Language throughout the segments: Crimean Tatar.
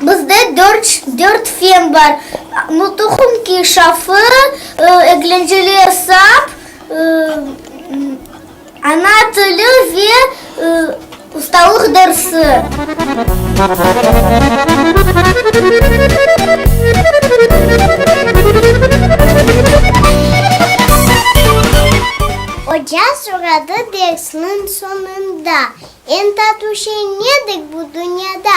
Bizde dört dört fen bar, nutuq, inkişafı, eglenceli esap, ana tili ve ustalıq dersi. Oca soradı dersniñ soñunda, Eñ tatlı şey nedir bu dünyada?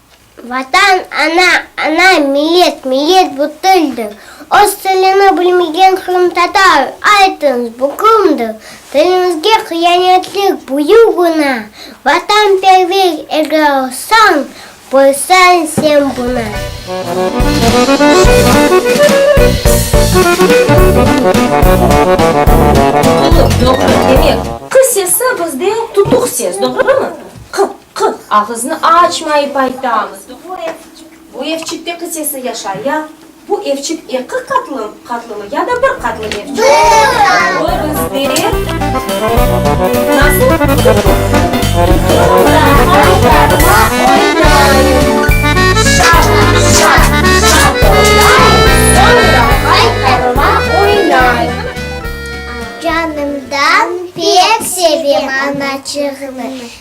Vatan, ana, ana, millet, millet bu tildir. Öz tilini bilmegen qırımtatar, aytıñız, bu kimdir? Tiliñizge qıyanetlik, büyük günâ. Vatanperver eger olsañ, bilseñ sen bunı. Qız, ağıznı açmayıp ayta. Bu ev, bu evçik peki sesi yaşay ya? Bu evçik eki qatlı, qatlımı ya da bir qatlı evçik? Bir qatlı. Oy, bizde. Nasıl? Canımdan pek sevem anaçığımı.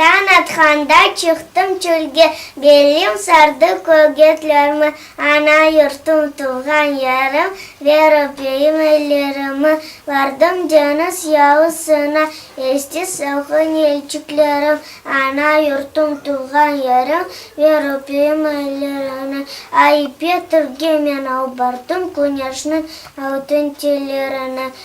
Tañ atqanda çıqtım çölge, Belim sardı kögetlermi, Ana yurtum, tuvğan yerim, Ver öpeyim ellerimi. Bardım deñiz yalısına, Esti salqın yelçiklerim, Ana yurtum, tuvğan yerim, Ver öpeyim ellerini. Ay ipek tuvge men al bardım, Küneşniñ altın tellerini.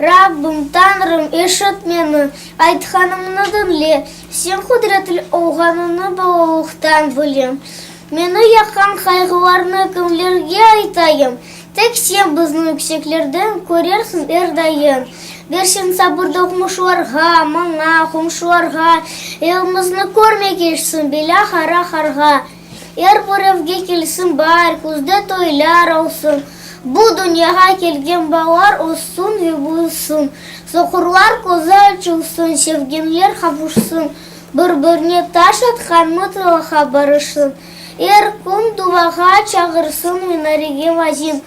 Rabbim, Tañrım, eşit meni, aytqanımnı diñle, Sen qudretli olğanıñnı balalıqtan bilem. Meni yaqan qayğılarnı kimlerge aytayım? Tek Sen bizni yükseklerden körersiñ er dayım. Bersen sabır doqmuşlarğa, maña, qomşularğa, Elimizni körmege eşsin belâ, qara qarğa. Er bir evge kelsin baar, Küzde toylar olsun. Bu dünyağa kelgen balalar Össün ve büyüsün. Soqurlar közü açılsın, Sevgenler qavuşsın. Bir-birine taş atqan Mıtılaqa barışsın. Er kün duvağa çağırsın Minarege mazin.